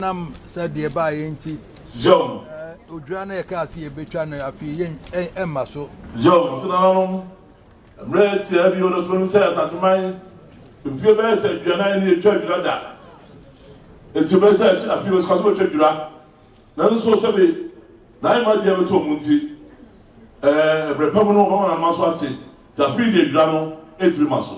nam sɛ deɛ ɛbaeɛ nti odwira no yɛkaa sɛ yɛbɛtwa no afei yɛ ɛmma so yɛwɔ so nananom mmerɛ tiaa bio no tonom sɛ asanteman mfie bɛyɛ sɛ aduanan ne ɛtwa dwira da ɛti bɛyɛ sɛ ɛsi afei wɔsika so bɛtwa dwira nanso sɛbe naayɛ ma deɛ bɛtɔ mu nti ɛberɛ pa mu no wɔbɛma nanoma so ate nti afei deɛ dwira no ɛtumi ma so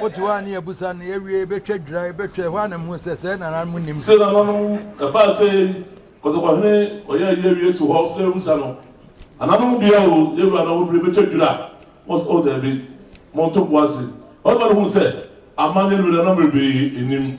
Wote hɔ a ne yɛabisa no, yɛawie, yɛbɛtwa dwira, yɛbɛhwɛ, ɛhɔ ara na mehuu sɛ sɛɛ na nananom nnim. Se nananom ɛbaa sɛ yei, kɔtɔkɔhene ɔyɛ ayi awie to hɔ, sɛ yɛabisa no, Nananom bia o, yɛwura na wɔduru, yɛbɛtwa dwira? Wɔse, Oh, daabi, monto bo ase. Ɔbarima no huu sɛ amanneɛ no bɛdane na mmerɛ pii nnim.